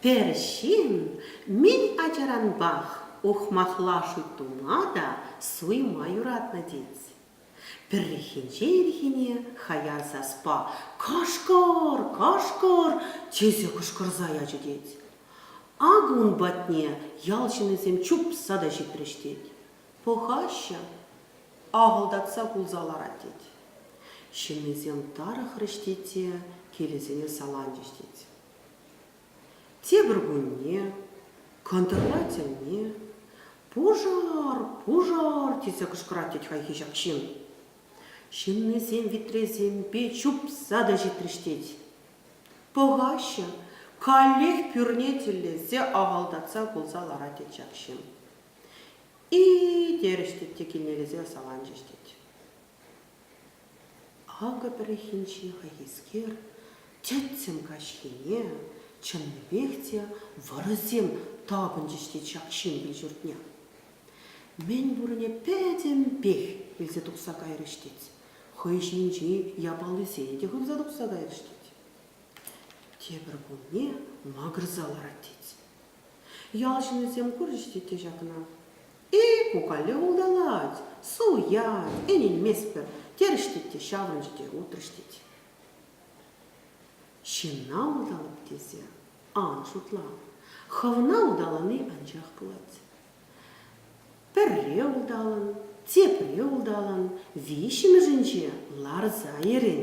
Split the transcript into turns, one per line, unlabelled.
Пӗр ҫын мӗн ачаранпах ухмахлашу тума та суйма юратнӑ тет. Пӗррехинче ирхине хаяр саспа «Кашкӑр! Кашкӑр!» тесе кӑшкӑрса ячӗ тет. Акӑ ун патне ял ҫыннисем чупса та ҫитрӗҫ тет. Пӑхаҫҫӗ, ахӑлтатса кулса ларать тет. Ҫыннисем тарӑхрӗҫ тет те килӗсене саланчӗҫ тет. Тепӗр кунне кӑнтӑрла тӗлне «Пушар! Пушар!» тесе кӑшкӑрать тет хайхи ҫак ҫын. Ҫыннисем витресемпе чупса та ҫитрӗҫ тет. Пӑхаҫҫӗ, каллех пӳрне тӗллесе ахӑлтатса кулса ларать тет ҫак ҫын. И-и, терӗҫ тет те киннелесе саланчӗҫ тет. Акӑ пӗррехинче хайхискер тӗттӗм каҫхине чӑннипех те вӑрӑсем тапӑнчӗҫ тет ҫак ҫын кил-ҫуртне. Мӗн пурне пӗтӗмпех илсе тухса кайрӗҫ тет. хӑй ҫинчи япалисен те хывса тухса кайрӗҫ тет. Тепӗр кунне макӑрса ларать тет. Ял ҫыннисем курчӗҫ тет те ҫакна. Э, пукале улталать, суят, ӗненместпӗр, терӗҫ тет те ҫаврӑнчӗ те утрӗҫ тет. Ҫынна улталать тесе ан шутла. Хӑвна улталани анчах пулать. Пӗрре улталӑн, тепре улталӑн, виҫҫӗмӗшӗнче ларса йӗрен.